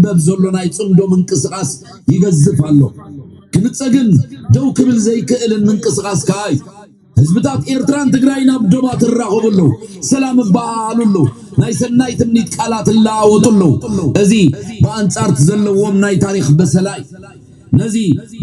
መብ ዘሎ ናይ ፅምዶ ምንቅስቓስ ይገዝፍ ኣሎ ክምፀ ግን ደው ክብል ዘይክእልን ምንቅስቓስ ከዓ እዩ ህዝብታት ኤርትራን ትግራይን ኣብ ዶባ ትራኸቡ ኣለዉ ሰላም እበሃሃሉ ኣለዉ ናይ ሰናይ ትምኒት ቃላት እለዋወጡ ኣለዉ እዚ ብኣንጻርት ዘለዎም ናይ ታሪክ በሰላ እዩ ነዚ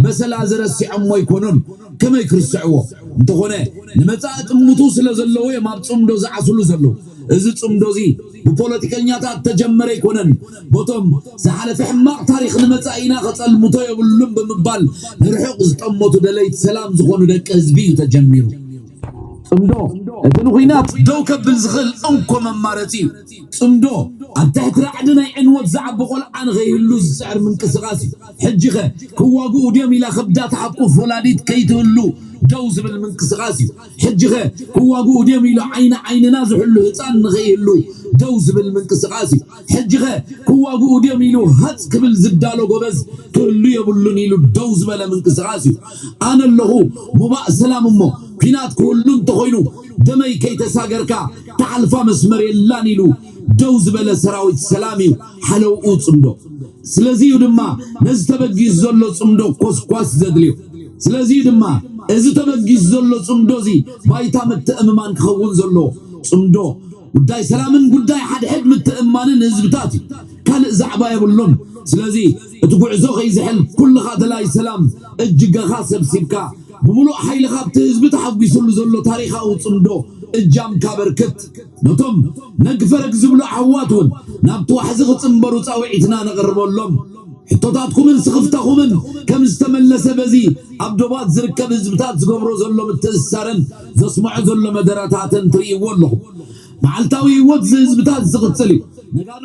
በሰላ እዚ ረሲዖሞ ኣይኮኑን፣ ከመይ ክርስዕዎ? እንተኾነ ንመጻኢ ጥምቱ ስለ ዘለዎ እዮም ኣብ ጽምዶ ዝዓስሉ ዘለዉ። እዚ ጽምዶ እዚ ብፖለቲከኛታት እተጀመረ ኣይኮነን፣ በቶም ዝሓለፈ ሕማቕ ታሪኽ ንመጻኢና ከጸልምቶ የብሉን ብምባል ንርሑቕ ዝጠመቱ ደለይቲ ሰላም ዝኾኑ ደቂ ህዝቢ እዩ ተጀሚሩ። ጽምዶ እቲ ንኹናት ደው ከብል ዝኽእል እንኮ መማረጺ እዩ። ጽምዶ ኣብ ትሕቲ ራዕዲ ናይ ዕንወት ዝዓቢ ቆልዓ ንኸይህሉ ዝጽዕር ምንቅስቓስ እዩ። ሕጂኸ ክዋግኡ ድዮም ኢላ ከብዳ ትሓቁፍ ወላዲት ከይትህሉ ደው ዝብል ምንቅስቃስ እዩ። ሕጂኸ ክዋግኡ ድዮም ኢሉ ዓይኒ ዓይንና ዝሕሉ ህጻን ንኸይህሉ ደው ዝብል ምንቅስቃስ እዩ። ሕጂኸ ክዋግኡ ድዮም ኢሉ ሃጽ ክብል ዝዳሎ ጎበዝ ክህሉ የብሉን ኢሉ ደው ዝበለ ምንቅስቃስ እዩ። ኣነ ኣለኹ ሙባእ ሰላም እሞ ኲናት ክህሉ እንተኾይኑ ደመይ ከይተሳገርካ ትሓልፋ መስመር የላን ኢሉ ደው ዝበለ ሰራዊት ሰላም እዩ ሓለውኡ ጽምዶ። ስለዚ እዩ ድማ ነዚ ተበጊሱ ዘሎ ጽምዶ ኮስኳስ ዘድልዮ። ስለዚ እዩ ድማ እዚ ተበጊሱ ዘሎ ጽምዶ እዚ ባይታ ምትእምማን ክኸውን ዘለዎ። ጽምዶ ጉዳይ ሰላምን ጉዳይ ሓድሕድ ምትእምማንን ህዝብታት እዩ። ካልእ ዛዕባ የብሉን። ስለዚ እቲ ጉዕዞ ከይዝሕል ኩልኻ ደላይ ሰላም እጅገኻ ሰብሲብካ ብምሉእ ሓይልኻ ኣብቲ ህዝቢ ተሓጒሱሉ ዘሎ ታሪኻዊ ጽምዶ እጃምካ ኣበርክት። ነቶም ነግፈረግ ዝብሉ ዓዋት እውን ናብቲ ዋሕዚ ክጽንበሩ ጻውዒትና ነቕርበሎም። ሕቶታትኩምን ስኽፍታኹምን ከም ዝተመለሰ በዚ ኣብ ዶባት ዝርከብ ህዝብታት ዝገብሮ ዘሎ ምትእስሳርን ዘስምዖ ዘሎ መደረታትን ትርእይዎ ኣለኹም። መዓልታዊ ህይወት እዚ ህዝብታት እዚ ዝቕጽል እዩ። ነጋዶ።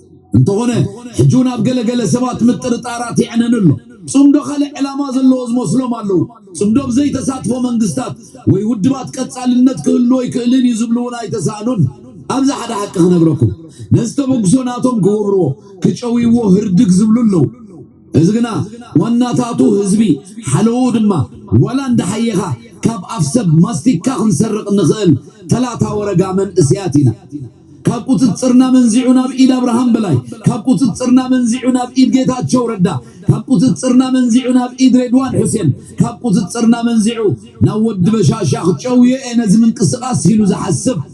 እንተኾነ ሕጂ እውን ኣብ ገለ ገለ ሰባት ምጥርጣራት ይዕነን ኣሎ። ጽምዶ ካልእ ዕላማ ዘለዎ ዝመስሎም ኣለዉ። ጽምዶ ብዘይተሳትፎ መንግስታት ወይ ውድባት ቀጻልነት ክህሉ ኣይክእልን እዩ ዝብሉ እውን ኣይተሳእኑን። ኣብዚ ሓደ ሓቂ ክነግረኩም። ነዚ ተበግሶ ናቶም ክገብርዎ፣ ክጨውይዎ ህርድግ ዝብሉ ኣለዉ። እዚ ግና ዋናታቱ ህዝቢ ሓለውኡ ድማ ዋላ እንዳሓየኻ ካብ ኣፍ ሰብ ማስቲካ ክንሰርቕ እንኽእል ተላታ ወረጋ መንእሰያት ኢና። ካብ ቁፅፅርና መንዚዑ ናብ ኢድ ኣብርሃም በላይ፣ ካብ ቁፅፅርና መንዚዑ ናብ ኢድ ጌታቸው ረዳ፣ ካብ ቁፅፅርና መንዚዑ ናብ ኢድ ሬድዋን ሑሴን፣ ካብ ቁፅፅርና መንዚዑ ናብ ወዲ በሻሻ ክጨውዮ እየ ነዚ ምንቅስቓስ ኢሉ ዝሓስብ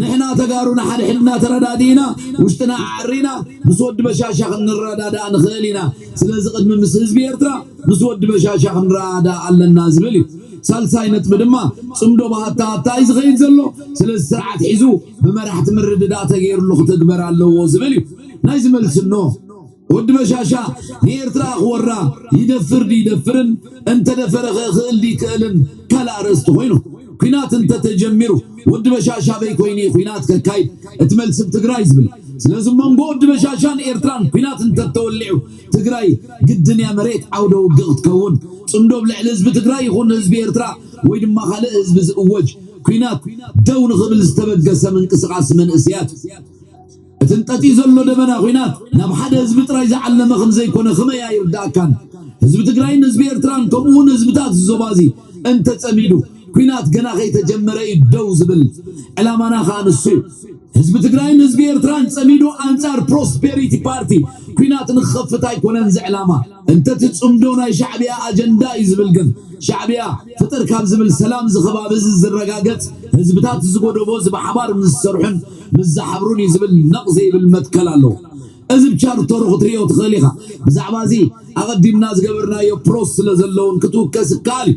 ንሕና ተጋሩ ንሓድሕድና ተረዳዲእና ውሽጥና ኣዐሪና ምስ ወዲ በሻሻ ክንረዳዳእ ንኽእል ኢና። ስለዚ ቅድሚ ምስ ህዝቢ ኤርትራ ምስ ወዲ በሻሻ ክንረኣዳእ ኣለና ዝብል እዩ። ሳልሳይ ነጥቢ ድማ ጽምዶ ብሃታ ሃታ እዩ ዝኸይድ ዘሎ። ስለዚ ስርዓት ሒዙ ብመራሕቲ ምርድዳእ ተገይርሉ ክትግበር ኣለዎ ዝብል እዩ። ናይዚ መልሲ እነሆ። ወዲ በሻሻ ንኤርትራ ክወራ ይደፍር ድዩ ይደፍርን እንተደፈረኸ ክእል ድዩ ይክእልን ካልእ ኣርእስቲ ኮይኑ ኩናት እንተተጀሚሩ ወዲ በሻሻ ኣበይ ኮይኑ እዩ ኩናት ከካይድ እቲ መልሲ ብ ትግራይ ዝብል ስለዚ መንጎ ወዲ በሻሻን ኤርትራን ኩናት እንተተወሊዑ ትግራይ ግድን እያ መሬት ዓውደ ውግእ ክትከውን ፅምዶ ብ ልዕሊ ህዝቢ ትግራይ ይኹን ህዝቢ ኤርትራ ወይ ድማ ካልእ ህዝቢ ዝእወጅ ኩናት ደው ንክብል ዝተበገሰ ምንቅስቃስ መንእስያት እዩ። እቲ እንጠጢ ዘሎ ደበና ኹናት ናብ ሓደ ህዝቢ ጥራይ ዝዓለመ ከምዘይኮነ ክመይ ኣይርዳእካን? ህዝቢ ትግራይን ህዝቢ ኤርትራን ከምኡ ውን ህዝብታት እዚ ዞባ እዚ እንተጸሚዱ ኲናት ገና ከይተጀመረ እዩ ደው ዝብል። ዕላማና ከኣ ንሱ እዩ። ህዝቢ ትግራይን ህዝቢ ኤርትራን ጸሚዱ ኣንጻር ፕሮስፔሪቲ ፓርቲ ኲናት ንክኸፍት ኣይኮነን እዚ ዕላማ። እንተቲ ጽምዶ ናይ ሻዕብያ ኣጀንዳ እዩ ዝብል ግን ሻዕብያ ፍጥር ካብ ዝብል ሰላም እዚ ከባቢ እዚ ዝረጋገጽ ህዝብታት እዚ ጎደቦ እዚ ብሓባር ምስ ዝሰርሑን ምስ ዝሓብሩን እዩ ዝብል ነቕ ዘይብል መትከል ኣለዎ። እዚ ብ ቻርተሩ ክትርእዮ ትኽእል ኢኻ። ብዛዕባ እዚ ኣቐዲምና ዝገበርናዮ ፕሮስ ስለ ዘሎ እውን ክትውከስ ይከኣል እዩ።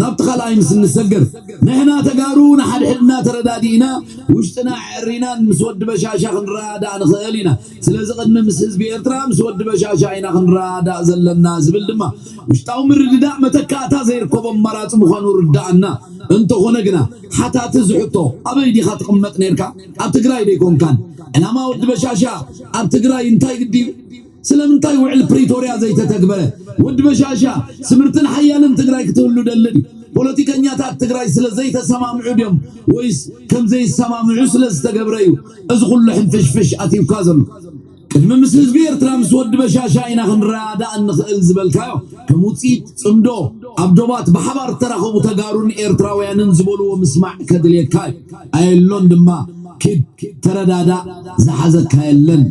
ናብቲ ካልኣይ ምስ እንሰገር ንሕና ተጋሩ ንሓድሕድና ተረዳዲእና ውሽጥና ኣዐሪናን ምስ ወዲ በሻሻ ክንረዳዳእ ንኽእል ኢና። ስለዚ ቅድሚ ምስ ህዝቢ ኤርትራ ምስ ወዲ በሻሻ ኢና ክንረዳዳእ ዘለና ዝብል ድማ ውሽጣዊ ምርድዳእ መተካእታ ዘይርከቦ ኣማራጺ ምዃኑ ርደኣና። እንተኾነ ግና ሓታቲ እዚ ሕቶ ኣበይ ዲኻ ትቕመጥ ኔርካ ኣብ ትግራይ ደይኮንካን? ዕላማ ወዲ በሻሻ ኣብ ትግራይ እንታይ ግዲ? ስለምንታይ ውዕል ፕሪቶርያ ዘይተተግበረ? ወዲ በሻሻ ስምርትን ሓያልን ትግራይ ክትህሉ ደሊ ድዩ? ፖለቲከኛታት ትግራይ ስለ ዘይተሰማምዑ ድዮም ወይስ ከም ዘይሰማምዑ ስለ ዝተገብረ እዩ እዚ ኩሉ ሕንፍሽፍሽ ኣትዩካ ዘሎ? ቅድሚ ምስ ህዝቢ ኤርትራ ምስ ወዲ በሻሻ ኢና ክንረዳዳእ እንኽእል ዝበልካዮ ከም ውጽኢት ጽምዶ ኣብ ዶባት ብሓባር እተራኸቡ ተጋሩን ኤርትራውያንን ዝበልዎ ምስማዕ ከድልየካ እዩ። ኣየሎን ድማ ኪድ ተረዳዳእ ዝሓዘካ የለን።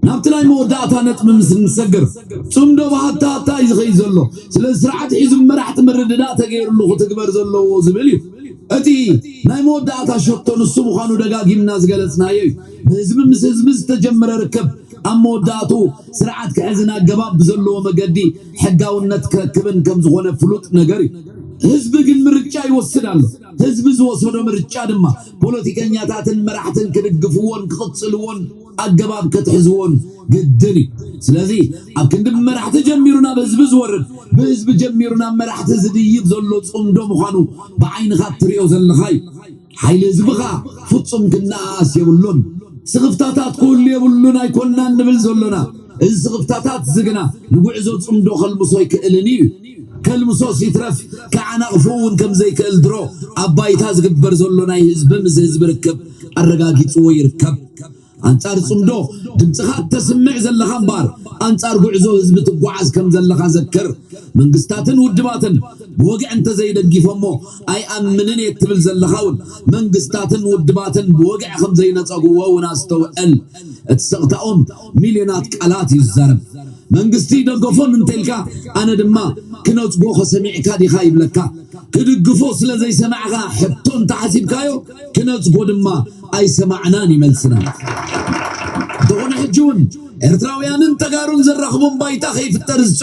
ናብቲ ናይ መወዳእታ ነጥቢ ምስ እንሰግር ጽምዶ ብሃታ ሃታ እዩ ዝኸይድ ዘሎ። ስለዚ ስርዓት ሒዙ ብመራሕቲ ምርድዳእ ተገይርሉ ክትግበር ዘለዎ ዝብል እዩ። እቲ ናይ መወዳእታ ሸቶ ንሱ ምዃኑ ደጋጊምና ዝገለጽናዮ እዩ። ብህዝቢ ምስ ህዝቢ ዝተጀምረ ርክብ ኣብ መወዳእትኡ ስርዓት ክሕዝን ኣገባብ ብዘለዎ መገዲ ሕጋውነት ክረክብን ከም ዝኾነ ፍሉጥ ነገር እዩ። ህዝቢ ግን ምርጫ ይወስድ ኣሎ። ህዝቢ ዝወሰዶ ምርጫ ድማ ፖለቲከኛታትን መራሕትን ክድግፍዎን ክቕጽልዎን፣ ኣገባብ ክትሕዝዎን ግድን እዩ። ስለዚ ኣብ ክንዲ ብመራሕቲ ጀሚሩ ናብ ህዝቢ ዝወርድ ብህዝቢ ጀሚሩ ናብ መራሕቲ ዝድይብ ዘሎ ጽምዶ ምዃኑ ብዓይንኻ እትሪኦ ዘለኻ እዩ። ሓይሊ ህዝብኻ ፍጹም ክነኣኣስ የብሉን። ስኽፍታታት ክህሉ የብሉን ኣይኮናን ንብል ዘሎና። እዚ ስኽፍታታት'ዚ ግና ንጉዕዞ ጽምዶ ከልምሶ ኣይክእልን እዩ። ከልምሶስ ይትረፍ ክዓናቕፍ'ውን ከም ዘይክእል ድሮ ኣብ ባይታ ዝግበር ዘሎ ናይ ህዝቢ ምስ ህዝቢ ርክብ ኣረጋጊጽዎ ይርከብ። ኣንጻር ጽምዶ ድምጽኻ እተስምዕ ዘለኻ እምበኣር ኣንጻር ጉዕዞ ህዝቢ ትጓዓዝ ከም ዘለኻ ዘክር። መንግስታትን ውድባትን ብወግዒ እንተዘይደጊፎሞ ኣይኣምንን እየ እትብል ዘለኻ እውን መንግስታትን ውድባትን ብወግዒ ከም ዘይነጸግዎ እውን ኣስተውዕል። እቲ ስቕታኦም ሚልዮናት ቃላት እዩ ዝዛረብ። መንግስቲ ይደገፎን እንተኢልካ ኣነ ድማ ክነጽጎ ከሰሚዕካ ዲኻ ይብለካ። ክድግፎ ስለ ዘይሰማዕካ ሕቶ እንተሓሲብካዮ፣ ክነጽጎ ድማ ኣይሰማዕናን እዩ መልስና። እንተኾነ ሕጂ እውን ኤርትራውያንን ተጋሩን ዘራኽቦም ባይታ ከይፍጠር ዝጽ